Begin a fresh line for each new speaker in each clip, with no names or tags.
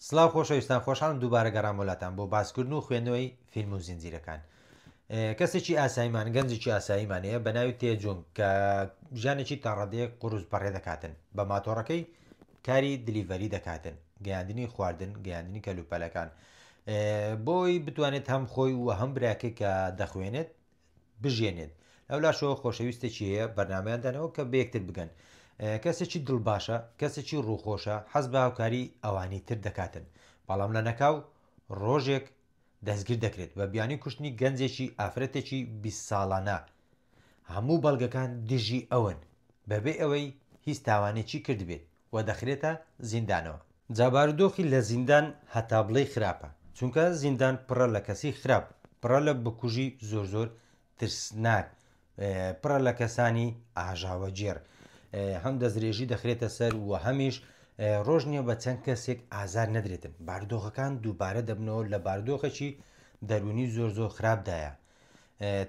سڵاو خۆشەویستان خۆشحاڵم دووبارە گەڕامەوە لاتان بۆ باسکردن و خوێندنەوەی فیلم و زنجیرەکان کەسێکی ئاسایمان گەنجێکی ئاساییمان هەیە بە ناوی تێجونگ کە ژیانێکی تاڕادەیە قوروز بەڕێ دەکاتن بە ماتۆڕەکەی کاری دلیڤەری دەکاتن گەیاندنی خواردن گەیاندنی کەلوپەلەکان بۆی بتوانێت هەم خۆی و هەم براکە کە دەخوێنێت بژیێنێت لەولاشەوە خۆشەویستێکی هەیە بەرنمەیان دانەوە کە بەیەکتر بگەن کەسێکی دڵ باشە کەسێکی ڕووخۆشە حەز بە هاوکاری ئەوانی تر دەکاتن بەڵام لە نەکاو ڕۆژێک دەستگیر دەکرێت بە بیانی کوشتنی گەنجێکی ئافرەتێکی 20 ساڵانە هەموو بەڵگەکان دژی ئەون بەبێ ئەوەی هیچ تاوانێکی کردبێت و دەخرێتە زیندانەوە. جا بارودۆخی لە زیندان هەتا بڵێی خراپە چونکە زیندان پڕە لە کەسی خراپ پڕە لە بکوژی زۆر زۆر ترسناک پڕە لە کەسانی ئاژاوە گێڕ هەم دەستدرێژی دەخرێتە سەر و هەمیش ڕۆژ نییە بە چەند کەسێک ئازار نەدرێتن بارودۆخەکان دووبارە دەبنەوە لە بارودۆخەکی دەرونی زۆر زۆر خراپدایە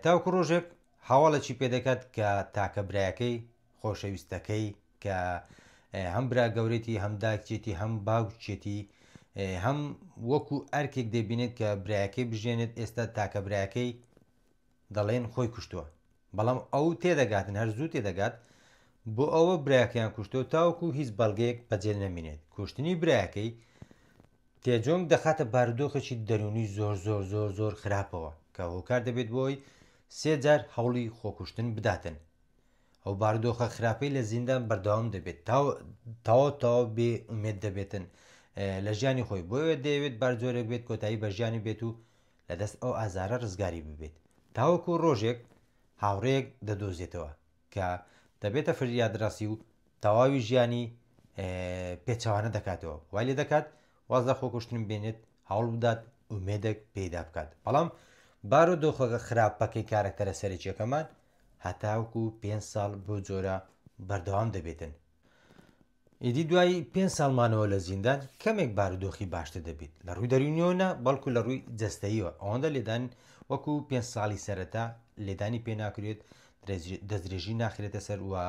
تاوکو ڕۆژێک هاواڵێکی پێدەکات کە تاکە برایەکەی خۆشەویستەکەی کە هەم برا گەورەێتی هەم داکچێتی هەم باوکچێتی هەم وەکو ئەرکێک دەبینێت کە برایەکەی بژێنێت ئێستا تاکە برایەکەی دەڵێن خۆی کوشتووە بەڵام ئەو تێدەگاتن هەر زوو تێدەگات بۆ ئەوە برایەکەیان کوشتۆ تاوەکو هیچ بەڵگەیەک بەجێل نەمینێت کوشتنی برایەکەی تێجۆنگ دەخاتە بارودۆخێکی دەرونی زۆر زۆر زۆر زۆر خراپەوە کە هۆکار دەبێت بۆی سێجار هەوڵی خۆکوشتن بداتن ئەو باردۆخە خراپەی لە زیندان بەردەوام دەبێت تا تەواو تەواو بێ ئومێد دەبێتن لە ژیانی خۆی بۆیە دەیەوێت بارجۆرێک بێت کۆتایی بە ژیانی بێت و لە دەست ئەو ئازارە ڕزگاری ببێت تاوەکو ڕۆژێک هاوڕێک دەدۆزێتەوە کە دەبێتە فریادڕاسی و تەواوی ژیانی پێچوانە دەکاتەوە وای لێ دەکات واز لە خۆکوشتن بێنێت هەوڵبدات ئومێدێک پێیدا بکات بەڵام بارۆ دۆخەکە خراپەکەی کارەکتەرە سەرچیەکەمان هەتاوکو پێ ساڵ بۆ جۆرە بەردەوام دەبێتن ئیدی دوای پێ ساڵمانەوە لە زیندان کەمێک بارودۆخی باشتر دەبێت لە ڕووی دەرونیۆنە بەڵکو لە ڕووی جستەیەوە ئەوەندە لێدان وەکو پێ ساڵی سەرەتا لێدانی پێ ناکرێت دەستدرێژی ناخرێتە سەر وە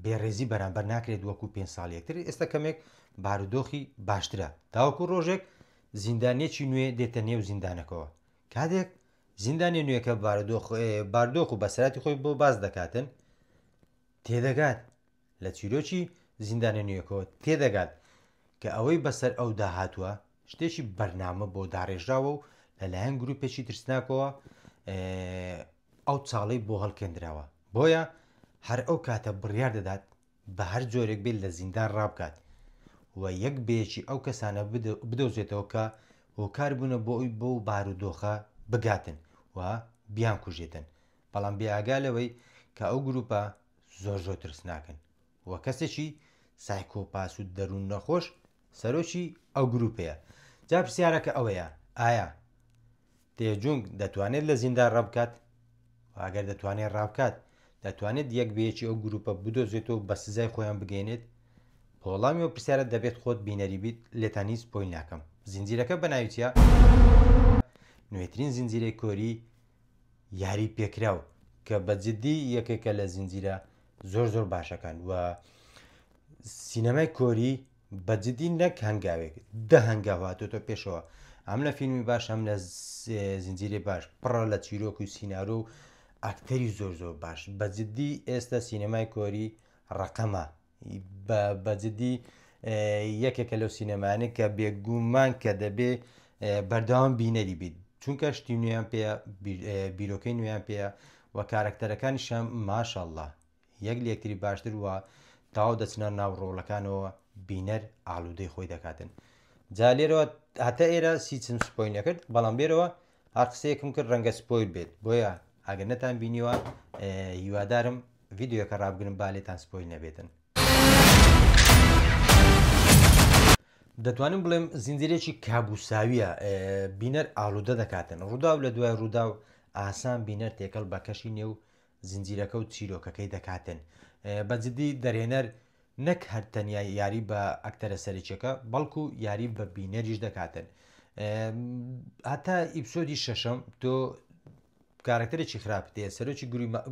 بێڕێزی بەرامبەر ناکرێت وەکو پێ ساڵ یەکتر ئێستا کەمێک بارودۆخی باشترە تاوەکو ڕۆژێک زیندانێکی نوێ دێتە نێو زیندانەکەەوە کاتێک زیندانی نوێەکە بارودۆخ باردۆخ و بەسەراتی خۆی بۆ باز دەکاتن تێدەگات لە چیرۆکی زیندانە نوێەکەەوە تێدەگات کە ئەوەی بەسەر ئەو داهاتوە شتێکی بەرنامە بۆ داڕێژراوە و لەلایەن گروپێکی ترسناکەوە ئەو چاڵەی بۆ هەڵکێندراوە، بۆیە هەر ئەو کاتە بڕیار دەدات بە هەر جۆرێک بێت لە زیندان ڕابکات و یەک بە یەکی ئەو کەسانە بدۆزێتەوە کە هۆکار بوونە بۆ ئەوی بەو بارودۆخە بگاتن و بیانکوژێتن، بەڵام بێئاگا لەوەی کە ئەو گرووپە زۆر زۆر ترسناکن. و کەسێکی سایکۆپاس و دەروون نەخۆش سەرۆکی ئەو گروپەیە جا پرسیارەکە ئەوەیە ئایا تێجونگ دەتوانێت لە زیندان ڕەبکات ئەگەر دەتوانێت ڕابکات دەتوانێت یەک بەیەکی ئەو گروپە بدۆزێتەوە بە سزای خۆیان بگەینێت پۆڵامی و پرسیارە دەبێت خۆت بینەری بیت لێتان هیچ پۆی ناکەم زنجیرەکە بە ناویچە نوێترین زنجیرەی کۆری یاری پێکراو کە بە جددی یەکێکە لە زنجیرە زۆر زۆر باشەکان و سینەمای کۆری بە جددی نەک هەنگاوێک دە هەنگاو هاتۆتە پێشەوە ئەم لە فیلمی باش هەم لە زنجیرە باش پڕە لە چیرۆک و سینارۆ و ئاکتەری زۆر زۆر باش بە جددی ئێستا سینەمای کۆری ڕقەمە بە بە جدی یەکێکە لەو سینەمانە کە بێگومان کە دەبێ بەردەوام بینەری بیت چونکە شتی نوێیان پێ بیرۆکەی نوێیان پێە و کارەکتەرەکانی شەم ماشەله یەک لەکتری باشتر وە تاو دەچنە ناو ڕۆڵەکانەوە بینەر ئالوودەی خۆی دەکاتن جا لێرەوە هەتا ئێرە سیچم سپۆی نەکرد بەڵام لێرەوە هەر قسەیەکم کرد ڕەنگە سپۆیل بێت بۆیە ئەگەر نەتان بینیوە هیوادارم ڤیددیوەکە ڕابگرن با لێتان سپۆیل نەبێتن دەتوانم بڵێم زیندرێکی کابوساویە بینەر ئالوودە دەکاتن ڕوودا و لە دوای ڕوودا و ئاسان بینەر تێکەڵ بە کەشی نێو زنجیرەکە و چیرۆکەکەی دەکاتن بە جدی دەرهێنەر نەک هەر تەنیا یاری بە ئەکتەرە سەرچەکە بەڵکو یاری بە بینەریش دەکاتن هەتا ئیپسۆدی شەشەم تۆ کارکتەرێکی خراپ دێ سەرۆکی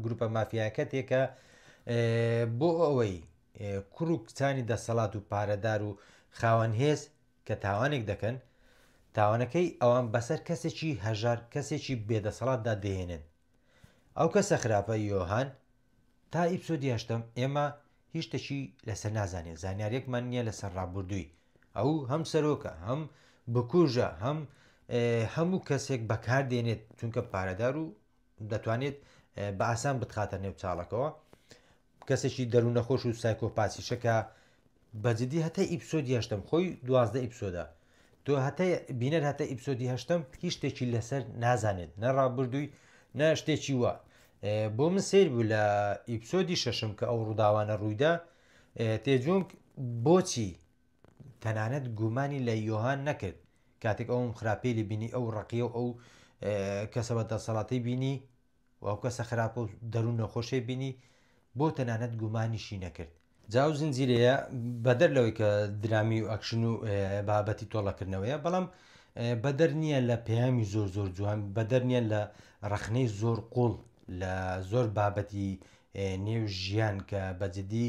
گروپە مافیاکە تێکە بۆ ئەوەی کوڕ و کچانی دەسەڵات و پارەدار و خاوەن هێز کە تاوانێک دەکەن تاوانەکەی ئەوان بەسەر کەسێکی هەژار کەسێکی بێدەسەڵاتدا دەێنن ئەو کەسە خراپە یۆهان. تا ئیپسۆدی هەشتەم ئێمە هیچ شتەکی لەسەر نازانێت زانیارێکمان نییە لەسەر ڕابردووی ئەو هەم سەرۆکە هەم بکوژە هەم هەموو کەسێک بەکار دێنێت چونکە پارەدار و دەتوانێت بە ئاسان بتخاتە نێو چاڵەکەەوە کەسێکی دەرونەخۆش و سایکۆپاسیشە کە بە جدی هەتا ئیپسۆدی هەشتم خۆی دوازدە ئیپسۆدا تۆ هەتا بینەر هەتا ئیپسۆدی هەشتم هیچ شتێکی لەسەر نازانێت نە ڕابردووی نە شتێکی وە بۆ من سیر بوو لە ئیپسۆدی شەشم کە ئەو ڕووداوانە ڕوویدا تێجونگ بۆچی تەنانەت گومانی لە یۆهان نەکرد کاتێک ئەوم خراپێلی بینی ئەو ڕقیە و ئەو کەسەوە دەسەڵاتی بینی و ئەو کەسە خراپە و دەروون نەخۆشەی بینی بۆ تەنانەت گومانیشی نەکرد. جا ئەو زنجیرەیە بەدەر لەوەی کە درامی و ئەکشن و بابەتی تۆڵەکردنەوەیە بەڵام بەدەر نییە لە پەیامی زۆر زۆر جوان بەدەر نییە لە ڕەخنەی زۆر قوڵ لە زۆر بابەتی نێو ژیان کە بەجددی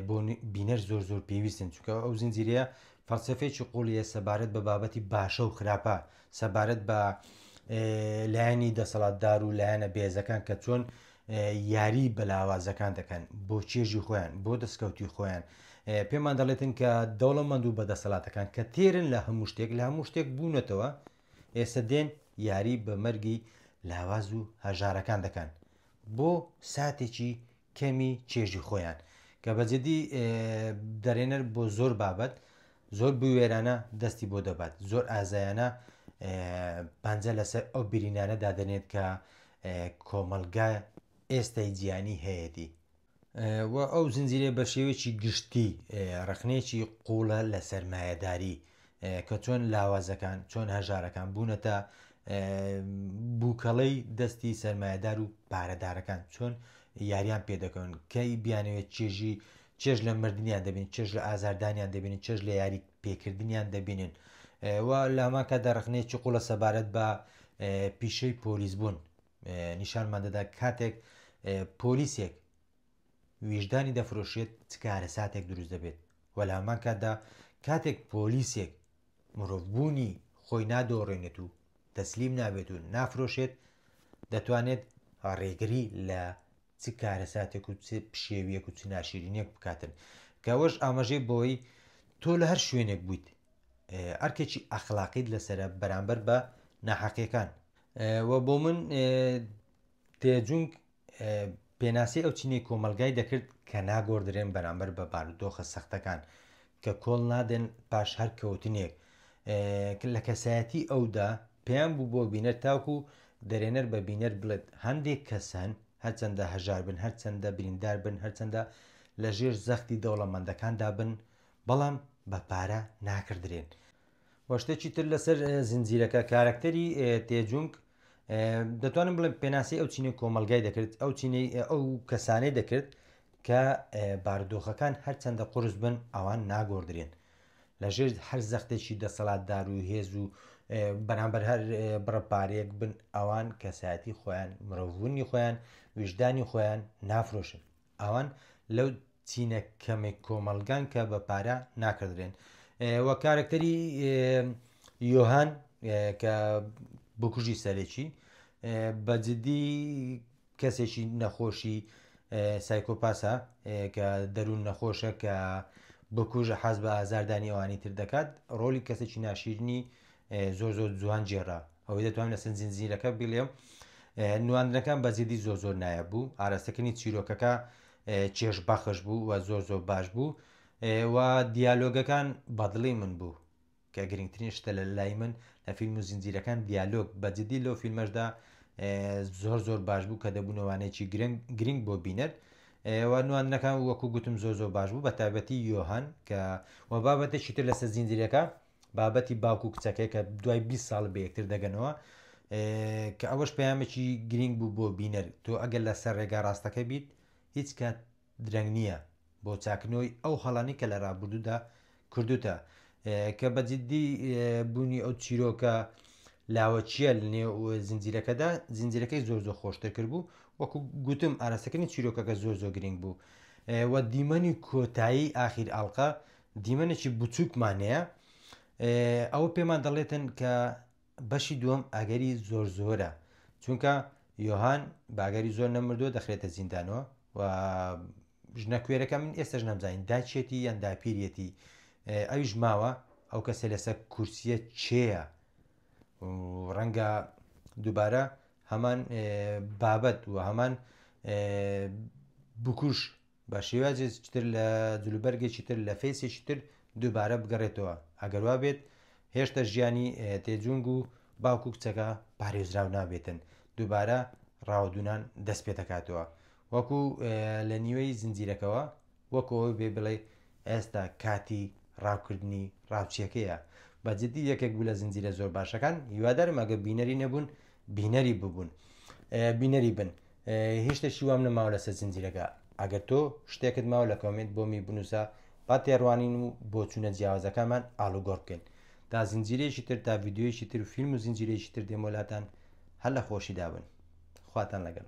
بۆ بینەر زۆر زۆر پێویستن چونکە ئەو زنجیرەیە فەلسەفەیەکی قوڵیە سەبارەت بە بابەتی باشە و خراپە سەبارەت بە لایەنی دەسەڵاتدار و لایەنە بێزەکان کە چۆن یاری بەلاوازەکان دەکەن بۆ چێژی خۆیان بۆ دەستکەوتی خۆیان پێمان دەڵێتن کە دەوڵەمەند و بەدەسەڵاتەکان کە تێرن لە هەموو شتێک لە هەموو شتێک بوونەتەوە ئێستا دێن یاری بە مەرگی لاواز و هەژارەکان دەکەن بۆ ساتێکی کەمی چێژی خۆیان کە بە جدی دەرێنەر بۆ زۆر بابەت زۆر بوێرانە دەستی بۆ دەبات زۆر ئازایانە پەنجە لەسەر ئەو برینانە دادەنێت کە کۆمەلگا ئێستای جیانی هەیەی و ئەو زنجیرە بە شێوەیەکی گشتی ڕخنێکی قوڵە لە سەرمایەداری کە چۆن لاوازەکان چۆن هەژارەکان بوونەتە بووکەڵەی دەستی سەرمایهدار و پارەدارەکان چۆن یاریان پێدەکەون کەی بیانەوێت چێژی چێژ لە مردیان دەبین چێژ لە ئازاردانیان دەبین چێژ لە یاری پێکردنیان دەبینن و لاماکە دەڕخنێکی قوڵە سەبارەت بە پیشەی پۆلیس بوون نیشانمان دەدا کاتێک پۆلیسێک ویژدانی دەفرۆشێت چ کارەساتێک دروست دەبێت و لە هەمان کاتدا کاتێک پۆلیسێک مرۆڤ بوونی خۆی نادۆڕێنێت و تەسلیم نابێت و نافرۆشێت دەتوانێت ڕێگری لە چ کارەساتێک و چ پشێویەک و چ ناشیرینێک بکاتن کەەوەش ئاماژەی بۆی تۆ لە هەر شوێنێک بوویت ئەرکێکی ئەخلاقیت لەسرە بەرامبەر بە ناحەقیەکان و بۆ من تێجونگ پێناسەی ئەو چینەی کۆمەلگای دەکرد کە ناگۆردرێن بەرامبەر بە بارودۆخە سەختەکان کە کۆڵ نادەن پاش هەر کەوتنێک لە کەسایەتی ئەودا پێیان بوو بۆ بینەر تاوکو دەرێنەر بە بینەر بڵێت هەندێک کەسەن هەرچەندە هەژار بن هەرچەندە بریندار بن هەرچەندە لە ژێر زەختی دەوڵەمەندەکاندا بن بەڵام بە پارە ناکردرێن وەشتێکی تر لەسەر زنجیرەکە کارکتەری تێجونگ دەتوانم بڵێم پێناسی ئەو چینەی کۆمەلگای دەکرد ئەو چینەی ئەو کەسانەی دەکرد کە باردۆخەکان هەرچەندە قرس بن ئەوان ناگۆدرێن لە ژێر هەر زەختێکی دەسەڵاتدار و هێز و بەرامبەر هەر بڕەپارێک بن ئەوان کەسایەتی خۆیان مرۆڤونی خۆیان ویژدانی خۆیان نافرۆشن ئەوان لەو چینە کەمەی کۆمەڵگان کە بە پارە ناکردرێن وە کارکتەری یۆهان کە بکوژی سەرێکی بە جددی کەسێکی نەخۆشی سایکۆپاسە کە دەروون نەخۆشە کە بکوژە حەز بە ئازاردانی ئەوانی تر دەکات ڕۆلی کەسێکی ناشیرنی زۆر زۆر جوان جێرا ئەوەی دەتوانم لەسەر زنجیرەکە بیڵێم نواندنەکان بە جدی زۆر زۆر نایاب بوو ئاراستەکردنی چیرۆکەکە چێژ بەخش بوو و زۆر زۆر باش بوو و دیالۆگەکان بەدڵی من بوو کە گرنگترین شتە لە لای من لە فیلم و زنجیرەکان دیالۆگ بە جدی لەو فیلمەشدا زۆر زۆر باش بوو کە دەبوونەوانێکی گرنگ بۆ بینەر نواندنەکان وەکو گوتم زۆر زۆر باش بوو بە تابەتی یۆهان کە وە بابەتە چیتر لەسەر زیندرەکە بابەتی باوک و کچەکەی کە دوای 20 ساڵ بە یەکتر دەگەنەوە کە ئەوەش پامێکی گرنگ بوو بۆ بینەر تۆ ئەگەر لە سەر ڕێگا ڕاستەکە بیت هیچ کات درەنگ نییە بۆ چاکنەوەی ئەو هەڵانی کە لە ڕابردوودا کردوتە کە بەجددی بوونی ئەو چیرۆکە لاوەچیە لنێ زنجیرەکەدا زنجیرەکەی زۆر زۆر خۆشتر کرد بوو وەکو گوتم ئاراستەکردنی چیرۆکەکە زۆر زۆر گرنگ بوو و دیمەنی کۆتایی ئاخیر ئاڵلقە دیمەنێکی بچووکمان هەیە ئەوە پێمان دەڵێتن کە بەشی دووەم ئەگەری زۆر زۆرە چونکە یۆهان باگەری زۆر نەمردووە دەخرێتە زیندانەوە و ژنە کوێرەکە من ئێستش نەمزانین داچێتی یان داپیرەتی ئەویش ماوە ئەو کەسە لەسەر کورسیە چێە ڕەنگە دووبارە هەمان بابەت و هەمان بکوش بە شێوازێکی تر لە جلوبەرگێکی تر لە فەیسێکی تر دووبارە بگەڕێتەوە ئەگەر وا بێت هێشتا ژیانی تێجونگ و باوک و کچەکە پارێزراو نابێتن دووبارە ڕاوەدونان دەست پێ دەکاتەوە وەکو لە نیوەی زنجیرەکەەوە وەکەوە بێ بڵێ ئێستا کاتی ڕاوکردنی ڕاوچیەکەیە بەجددی یەکێک بوو لە زنجیرە زۆر باشەکان هیوادارم ئەگە بینەری نەبوون بینەری ببوون بینەری بن هیچ شتەکی وام نەماوە لەسەر زنجیرەکە ئەگەر تۆ شتێکت ماوە لە کۆمنت بۆ می بنووسە با تێڕوانین و بۆچوونە جیاوازەکانمان ئالوگۆڕ بکەین تا زنجیرەیەکی تر تا ڤیددیویەکی تر و فیلم و زنجیرەیەکی تر دێمۆلاتان هەر لە خۆشی دابن خواتان لەگەن